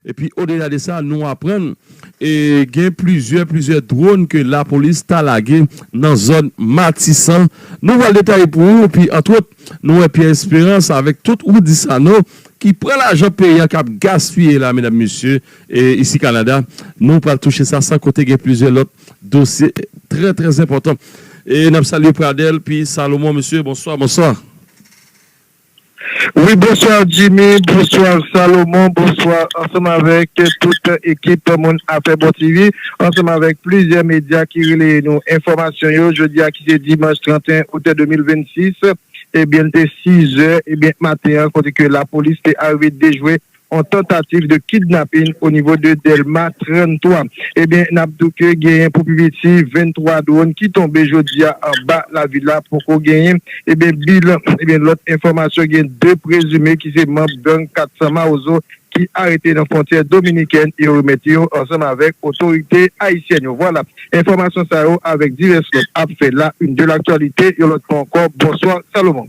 Epi odela de sa, nou aprann gen plizyè plizyè dwòn ke lapolis ta lage nan zòn Matisan. Nou pral detaye pou ou, epi antwòt, nou wè Pierre Esperance avèk tout Roudy Sanon ki pran lajan peyi an k ap gaspiye la medam mesye isi Kanada. Nou pral touche sa san konte gen plizyè lòt dosye trè trè zenpòtan. E n ap salye Pradel pi Salomon mesye bonswa bonswa. Wi bonsoir Jimmy bonsoir Salomon bonsoir ansanm avèk tout ekip moun afè bon TV ansanm avèk plizyè medya ki releye nou enfòmasyon yo jodia ki se dimanch 31 out 2026 ebyen li te 6 zè ebyen maten an kote ke lapolis te arive dejwe on tantativ de kidnapin o nivo de Dèlma 33. Ebyen nap di w ke genyen pou pi piti 23 dwon ki tonbe jodi a anba lavil la poko genyen ebyen bilan. Ebyen lòt enfòmasyon gen 2 prezime ki se manb gang 400 mawozo ki arete nan fwontyè dominikèn e yo remèt yo ansanm avèk otorite ayisyèn yo. Vwala enfòmasyon sa yo avèk divès lòt ap fè la une de laktwalite yon lòt fwa ankò. Bonswa Salomon.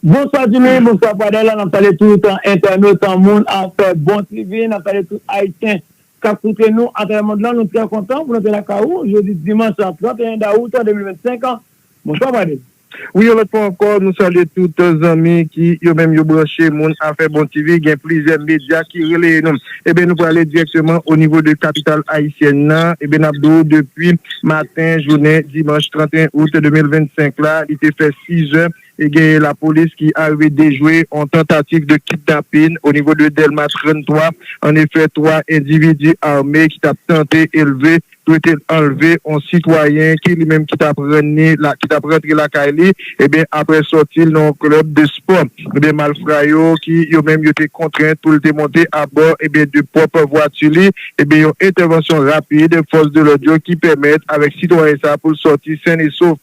Bonswa Julie, bonswa Pradel, nap salye tout entènot, moun ak bon TV, nap salye tout ayisyen kap koute nou atravè mond lan, nou trè kontan pou nou te lakay ou jodi dimanch 31 dawout 2025 an, bonswa Pradel. Wi yon lòt fwa ankò nou salye tout zanmi ki yo menm yo branche moun afè bon TV, gen plizyè medya ki releye nou. Eben nou prale direkteman o nivo de kapital ayisyèn nan, eben nap di w depi maten jounen dimanch 31 out 2025 la li te fè 6 zè e genyen lapolis ki arive dejwe on tantativ de kidnapin o nivo de Dèlma 33 an efè 3 endividi ame ki tap tante elve dwe te anlve yon sitwayen ki li menm ki tap rann ni ki tap rantre lakay li ebyen aprè sòti l nan yon club de spò ebyen malfra yo ki yo menm yo te kontrent pou l te monte abò ebyen de pwòp vwati li ebyen yon entèvansyon rapid fòs de lòd yo ki pèmèt avèk sitwayen sa pou l sòti sen e sof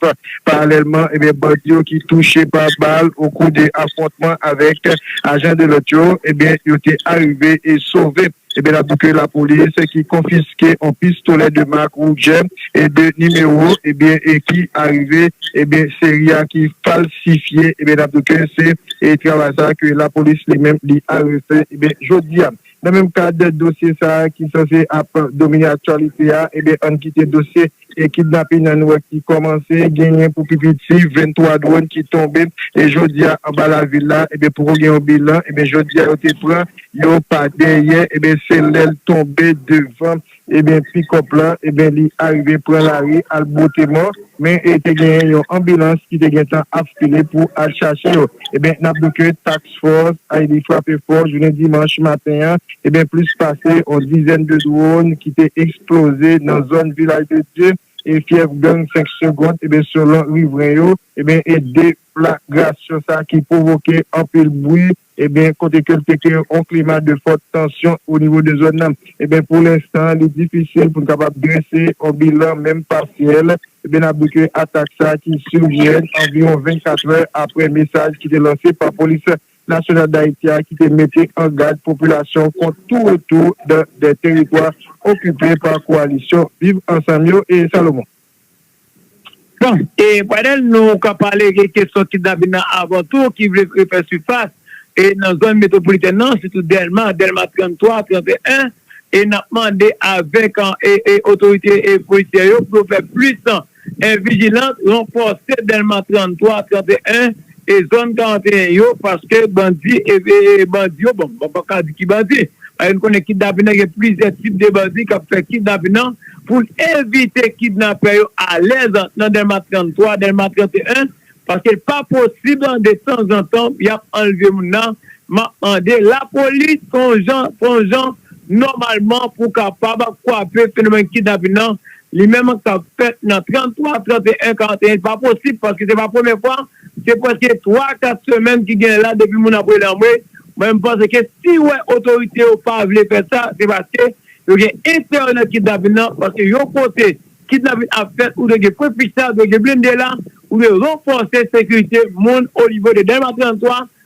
paralèlman ebyen bandi yo ki touche pa bal okou de afwontman avèk ajan de lòt yo ebyen yo te arive e sove. Ebyen apdi ke lapolis ki konfiske on pistolè de mak Ruger e de nimewo ebyen e ki arive ebyen seri a ki falsifye ebyen apdi ke se e travay sa ke lapolis li menm li arive fè ebyen jodi a. Nan menm kad dosye sa ki sanse ap domine aktyalite a ebyen ann kite dosye Se kidnapin an nou wè ki kòmanse, genyen pou pi piti 23 dwòn ki tonbe e jodi a anba lavil la, ebyen poko gen yon bilan, ebyen jodi a yo te pran yo pa dèyè, ebyen se lèl tonbe devan ebyen pikòp lan, ebyen li arive pran lari al bwote mò, men te genyen yon anbilans ki te gentan ap file pou al chache yo, ebyen nap di ke tax. Force a li frape fò jounen dimanch maten an ebyen plis pase yon dizèn de drone ki te eksploze nan zòn Vilaj de Dye e fyèf gang 5 segond ebyen selon rivren yo ebyen e de flagrasyon sa ki pwovoke anpil bwi ebyen kote ke l te kreye yon klima de fòt tansyon o nivo de zòn nan. Eben pou lenstan li difisil pou n kapab drese yon bilan menm pasyèl, eben n ap di ke atak sa ki survient anviwon 24 è apre mesaj ki te lanse pa Polis Nasyonal Dayiti a ki te mete an gad popilasyon kont tou retou dan 2 teritwa okipe pa kowalisyon Viv Ansanm yo, e Salomon. Bon, e pandan nou kap pale gen kesyon kidnapin nan avan tou ki vle refè sifas e nan zòn metwopolitèn nan sitou Dèlma, Dèlma 33, 31 e nap mande avèk e otorite e polisyè yo pou yo fè plis e vijilant ranfòse Dèlma 33, 31 e zòn 41 yo paske bandi e bandi yo bon mwen paka di ki bandi paske nou konnen kidnapin nan gen plizyè tip de bandi kap fè kidnapin nan poun evite kidnapè yo alèz nan dèlma 33 dèlma 31 paske l pa posib de tanzantan yap anlve moun nan map mande lapolis fon jan fon jan nòmalman pou kapab kwape fenomèn kidnapin nan Li menm an k ap fèt nan 33, 31, 41, li pa posib paske se pa premye fwa, se prèske 3, 4 semèn ki genyen la depi moun ap rele anmwe, mwen m panse ke si w wè otorite yo pa vle fè sa se paske yo gen enterè nan kidnapin nan paske yon kote kidnapin ap fèt ou dwe gen pwen fich la, dwe gen blende la, ou dwe ranfòse sekirite moun onivo de Dèlma 33,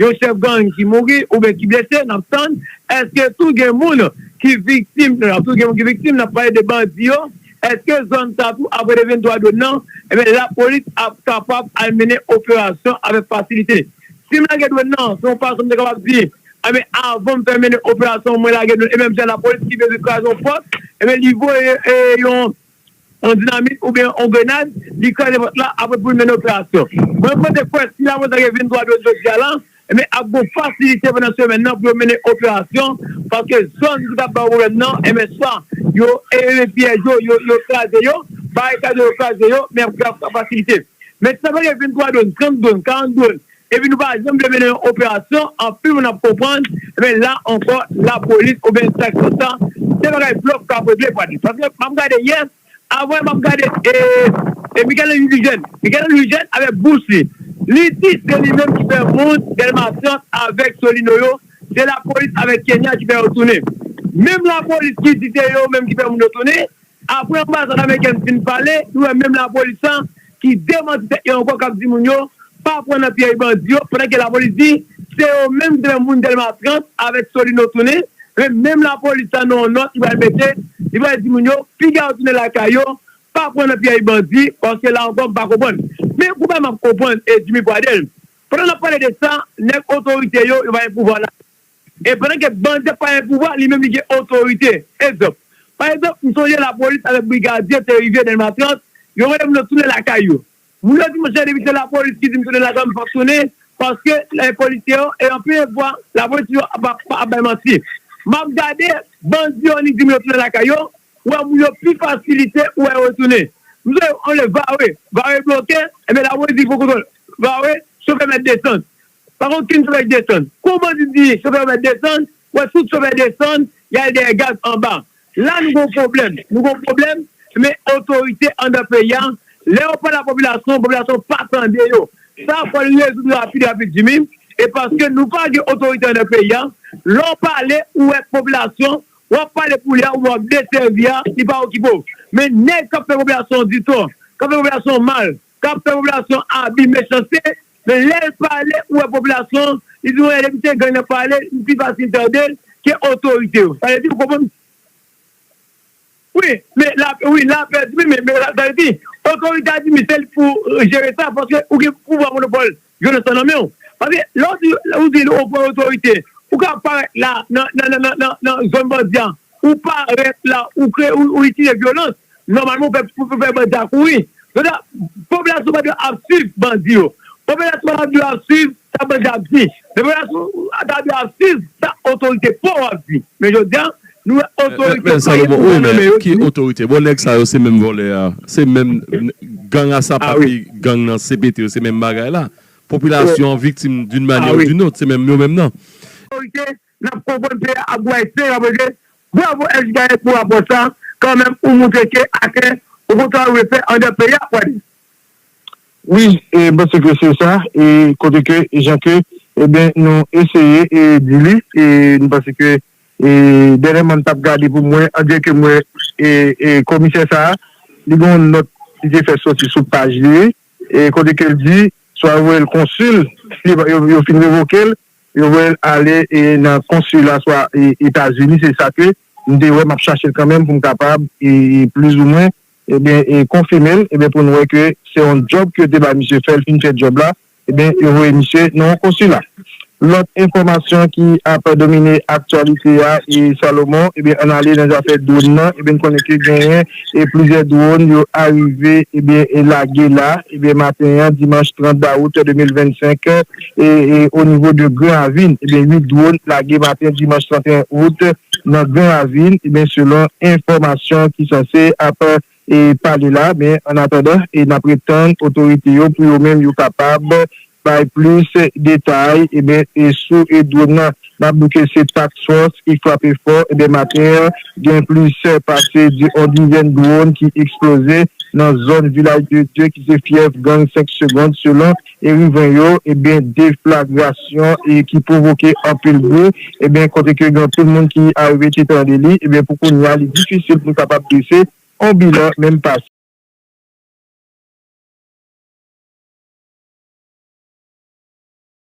Yon chèf gang ki mouri oubyen ki blese nap tann, eske tou gen moun ki viktim nan, tou gen moun ki viktim nap pale de bandi yo, eske zòn sa tou ap rete 23 dwòn nan, ebyen lapolis ap kapab al mennen operasyon avèk fasilite. Sim lage dwòn nan se yon fason m te kapab di ebyen avanm fè mennen operasyon mwen lage dwòn e menm jan lapolis ki bezwen kraze yon pòt ebyen li voye yon yon dinamit oubyen yon grenad, li kraze vant la apre pou li mennen operasyon. Mwen kote kwè si Lavozange vin kwa dwèt jodia la, enben ap gon fasilite pandan semèn nan pou yo mennen operasyon paske zòn ki tap ba yo pwoblèm nan, enben swa yo eleve pyèj yo, yo kraze yo, barikad yo, yo kraze yo, men ap gen fasilite. Men si Lavozange vin 3 dwòn, 30 dwòn, 40 dwòn, Epi nou pa janm vle mennen yon operasyon, anpil moun ap konprann, men la ankò lapolis oubyen distraksyon sa se bagay blòf kap regle pwadi. Paske map gade yè, avan yè map gade e Michaël Henry pi jèn, Michaël Henry jèn avèk bouch li, li di se li menm ki fè moun Delmas 30 avèk Solino yo, se lapolis avèk Kenya ki fè yo tounen. Menm lapolis ki di se yo menm ki fè moun yo tounen, Apre anbasad amerikèn fin pale, nou wè menm lapolis la ki demanti tèt yo ankò kap di moun yo pa pran nan pyèj bandi yo pandan ke lapolis di se yo menm ki te fè moun Dèlma 30 avèk Solino tounen men menm lapolis la nan yon nòt li pral mete li pral di moun yo piga yo tounen lakay yo pa pran nan pyèj bandi paske la ankò m pa konprann men pou bay map konprann e Jimmy Pradel pandan nap pale de sa nèg otorite yo yo pa gen pouvwa la. E pandan ke bandi ap pale pouvwa, li menm li gen otorite. Egzanp. Pa egzanp, m sonje lapolis avèk brigadye te rive Delma 30, yo mande moun yo tounen lakay yo. Moun yo di m, chè depi se lapolis ki di m tounen lakay m, m p ap tounen, paske e polisye yo, e anpil fwa, lapolis toujou ap ap bay manti. M ap gade bandi yo an li di m yo tounen lakay yo, ou wè moun yo pi fasilite ou wè yo retounen. M sonje yon lè Vare, Vare bloke, enben lapolis di fò kontwòl Vare, chofè mèt desann. Pa gen okenn chofè ki desann. Kou bandi di chofè Uber desann, wè tout chofè desann, y al dèyè gaz anba. La nou gen yon pwoblèm. Nou gen yon pwoblèm, men otorite anndan peyi a, lè yo pale a popilasyon, popilasyon pa tande yo. Sa a fò l rezoud rapid rapid Jimmy, e paske nou pa gen otorite anndan peyi a, lè w pale, ou wè popilasyon, w ap pale pou li a oubyen w ap desèvi a, li pa okipe w. Men nèg k ap fè popilasyon di tò, k ap fè popilasyon mal, kap fè popilasyon abi mechanste men lèl pale ou wè popilasyon an li di mwen depi se gang nap pale m pi fasil tandel ke otorite yo sa vle di ou konprann wi men lapè wi lapè di men sa vle di otorite a di men sel pou jere sa paske ou gen pouvwa monopòl Jonas pa nan menw. Paske lè w di ou di ou pran otorite ou ka parèt la nan zòn bandi a ou parèt la ou kreye ou itilize vyolans nòmalman ou fè pou fè bandi a kouri jodi a popilasyon pa dwe ap swiv bandi yo popilasyon pa dwe ap swiv sa bandi a ap di men popilasyon ta dwe ap swiv sa otorite paw ap di men jodi a Nou wè otorite pa gen pouvwa nan men yo di. Ki otorite? Bon nèg sa yo se menm vòlè a, se menm gang a sa pa ki gang nan cpt yo se menm bagay la. Popilasyon an viktim d'une manière ou d'une autre, se menm yo menm nan. Otorite nap konprann peyi a ap bway sen ap rete. Bravo SJ Gayèt pou rapò sa, kan menm ou moutre ke atè ou gon travay ou vle fè andan peyi a Kwade. Wi e panse ke se sa e kote ke jan ke ebyen nou eseye e di li e nou panse ke Dènyèman m t ap gade pou m wè, andire ke m wè komisè sa a, li gen yon nòt li te fè soti sou paj li kote ke l di swa yo voye l konsil, si yo fin revoke l, yo voye l ale nan konsila swa Etazini, se sa ke m te wè, m ap chache l kanmenm pou m kapab plizoumwen konfime l pou nou wè ke se yon djòb ke yo te bay misye fè, l fin fè djòb la. Ebyen yo voye misye nan yon konsila. Lòt enfòmasyon ki ap domine aktyalite a e Salomon ebyen ann ale nan zafè dwonn nan ebyen n konnen ke genyen plizyè dwonn yo arive ebyen lage la ebyen maten an dimanch 30 dawout 2025 e o nivo de gran ravin ebyen 8 dwonn lage maten dimanch 31 out nan gran ravin ebyen selon enfòmasyon ki sanse ap pale la men an atandan nap ret tann otorite yo pou yo menm yo kapab bay plis detay ebyen sou dwonn nan nap di ke se task force ki frape fò ebyen maten an gen plis pase on dizèn dwonn ki eksploze nan zòn vilaj de dye ki se fyèf gang 5 segond selon. Eriven yo ebyen deflagrasyon e ki pwovoke anpil bri ebyen kote ke gen anpil moun ki arive te tande li ebyen pou kounya li difisil pou kapab drese on bilan menm pa